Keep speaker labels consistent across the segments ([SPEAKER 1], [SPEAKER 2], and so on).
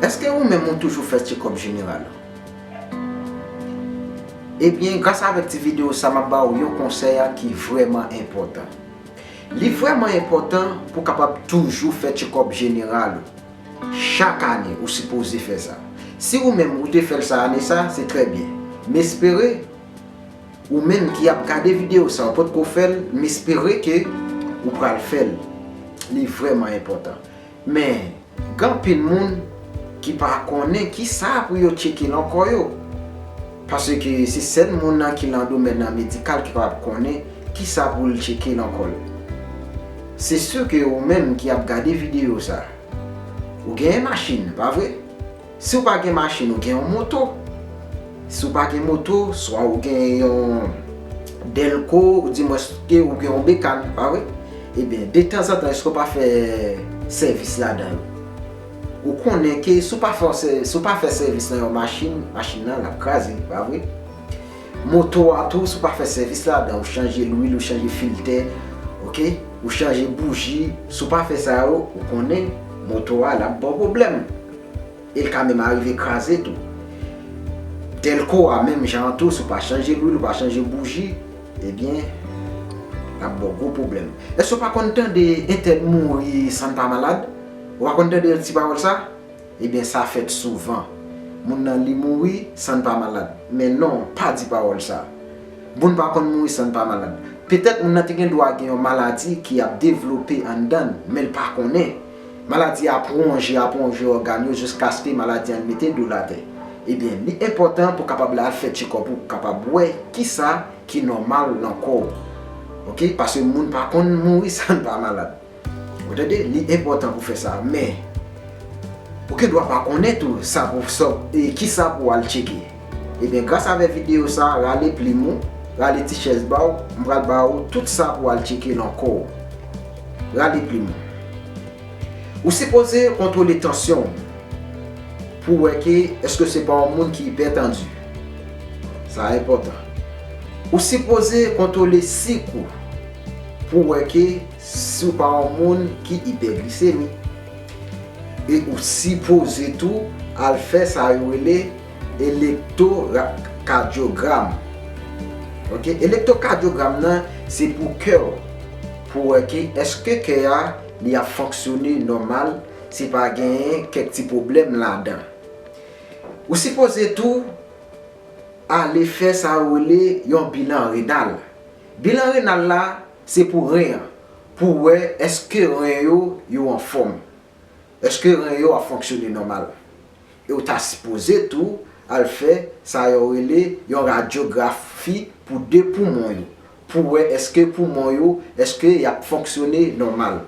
[SPEAKER 1] Eske ou menm ou toujou fè tchekòp jeneral ou? Ebyen gras avèk ti video sa map ba ou yon konsèy a ki vrèman enpòtan. Li vrèman enpòtan pou kapab toujou fè tchekòp jeneral ou. Chak ane ou sipoze fè sa. Si ou menm ou te fèl sa ane sa se trè byen. M espere ou menm ki ap gade video sa ou potko fèl m espere ke ou pral fèl. Li vrèman enpòtan. Men, gen anpil moun ki pa konnen ki sa pou yo tcheke lan kò yo. Paske se sèl moun nan ki lan domèn nan medikal ki kapab konnen ki sa pou l tcheke lan kò l. Se si ke ou menm ki ap gade videyo sa, ou genyen machin, pa vre? Si w pa gen machin ou gen yon moto. Si w pa gen moto, swa ou gen yon dèlko ou di mwens ke ou gen yon bekan, pa vre? Ebyen, de tanzantan èske w pa fè sèvis ladan l? Ou konnen ke si w pa fè yon sè, si w pa fè sèvis nan yon machin, machin nan l ap kraze, pa vre? Moto a tou, si w pa fè sèvis ladan, ou chanje lwil, ou chanje filtè, ok, ou chanje bouji, si w pa fè sa yo, ou konnen moto a l ap ba w pwoblèm. E l ka menm arive kraze tou. Dèlko a menm jan an tou si w pa chanje lwil, ou pa chanje bouji, ebyen l ap ba w gwo pwoblèm. Èske w pa konn tande entèn mouri san l pa malad? Ou pa konn tande ti pawòl sa? Ebyen sa fèt souvan. Moun nan li mouri san l pa malad. Men non, pa di pawòl sa. Moun pa konn mouri san l pa malad. Petèt moun nan te gen dwa gen yon maladi ki ap devlope anndan l, men l pa konnen. Maladi a ap wonje ap wonje ògàn yo jiskaske maladi an mete do l atè. Ebyen li enpòtan pou kapab la fè tchekòp ou pou kapab wè kisa ki nòmal nan kò ou. Ok paske moun pa konn mouri san pa malad. Ou tande li enpòtan pou fè sa men ou gen dwa pa konnen tou sa pou sa w e kisa pou w al tcheke. Ebyen gras avè video sa rale plim ou rale ti chèz baw m pral ba ou tout sa pou al tcheke nan kò ou rale plim ou ou sipoze kontwole tansyon ou pou wè ke eske se pa yon moun ki ipètandi sa enpòtan ou sipoze kontwole sik ou pou wè ke si ou pa yon moun ki ipèglisemi e ou sipoze tou al fè sa yo rele. Elektokadyogram ok elektokadyogram nan se pou kè w pou wè ke eske kè a li ap fonksyone nòmal se pa genyen kèk ti pwoblèm ladan ou sipoze tou ale fè sa yo rele yon bilan renal bilan renal la se pou ren an pou wè eske ren yo yo anfòm. Eske ren yo ap fonksyone nòmal? E w ta sipoze tou al fè sa yo rele yon radyografi pou 2 poumon yo pou wè eske poumon yo eske y ap fonksyone nòmal.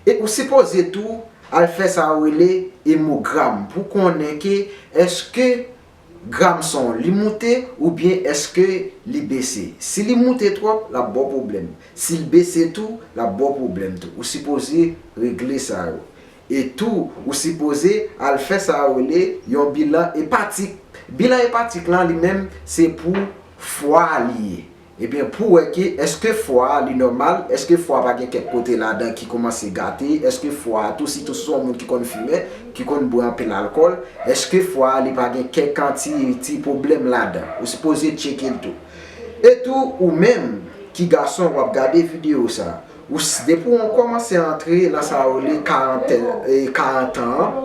[SPEAKER 1] E ou sipoze tou al fè sa yo rele emogram pou konnen ke eske Gram son li moute oubyen eske li bese? Si li moute twòp lap baw pwoblèm, sil bese tou lap baw pwoblèm tou, ou sipoze regle sa yo. E tou ou sipoze al fè sa yo rele yon bilan epatik. Bilan epatik lan li menm se pou fwa li ye. Ebyen pou wè ke eske fwa a li nòmal, eske fwa a pa gen kèk kote ladan ki koumanse gate, eske fwa a tou sitou si se yon moun ki konn fimen, ki konn bwè anpil alkòl, eske fwa a li pa gen kèk an ti ti pwoblèm ladan. Ou sipoze tcheke l tou. E tou ou menm ki gason wap gade videyo sa, ou depi ou kòmanse antre nan sa yo rele karantèn e karantan an,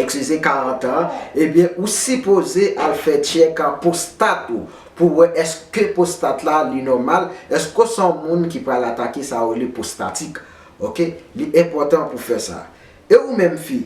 [SPEAKER 1] ekskize karantan an, ebyen ou sipoze al fè tchèk an pwostat ou. pou wè eske pwostat la li nòmal, eske w se yon moun ki pral atake sa yo rele pwostatik. Ok, li enpòtan pou fè sa. E ou menm fi?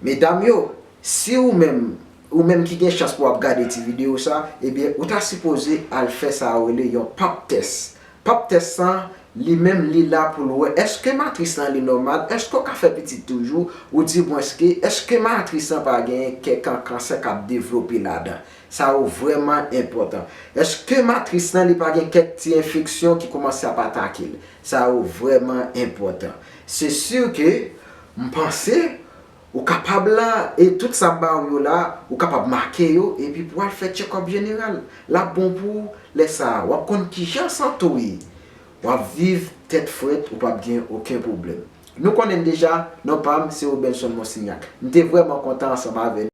[SPEAKER 1] Medam yo, si ou menm, ou menm ki gen chans pou w ap gade ti videyo sa, ebyen ou ta sipoze al fè sa yo rele yon Pap tès. Pap tès sa, li menm li la pou l wè eske matris lan li nòmal, eske w ka fè pitit toujou, ou dimwenske eske matris lan pa genyen kèk kan kansè k ap devlope ladan. Sa yo vrèman enpòtan. Eske matris lan li pa gen kèk ti enfeksyon ki koumanse ap atake l? Sa yo vrèman enpòtan. Se sur ke m panse ou kapab la e tout sa m ba ou yo la ou kapab make yo epi pou al fè tchekòp jeneral. L ap bon pou ou lè sa a. W ap konn kijan sante w ye. W ap viv tèt frèt ou p ap gen oken pwoblèm. Nou konnen m deja, non pa m se Robenson Monsignac. M te vrèman kontan ansanm avè nou.